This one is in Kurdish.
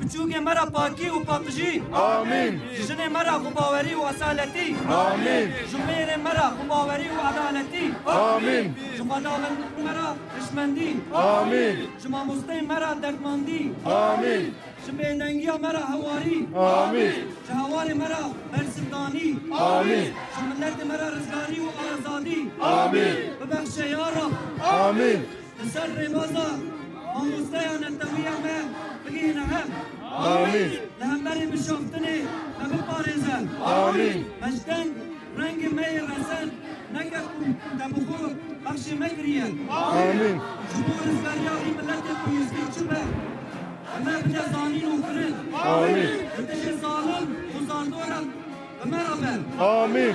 Piçûkên me re pakî û paqijî. Amîn. Jinên me re xwebawerî û esaletî. Amîn. Ji mêrên me re xwebawerî û edaletî. Amîn. Ji xwedawendên me re hişmendî. Amîn. Ji mamosteyên me re derdmandî. Amîn. Ji bêdengiya me re hewarî. Amîn. Ji hewarên me re bersivdanî. Amîn. Ji miletê me re rizgarî û azadî. Amîn. Bibexşe ya Rab. Amîn. Li ser rêbaza mamosteya netewiya me bigihîne hev. Amîn. Li hemberî bişaftinê me biparêze. Amîn. Beşdeng rengê me yê rezen neke ku te bi xwe bexşê me kiriye. Amîn. Ji bo rizgariya vî miletê ku yizgîr çi be bi me bide zanîn û kirin. Amîn. Li dijî zalim û zaldoran bi me re be. Amîn.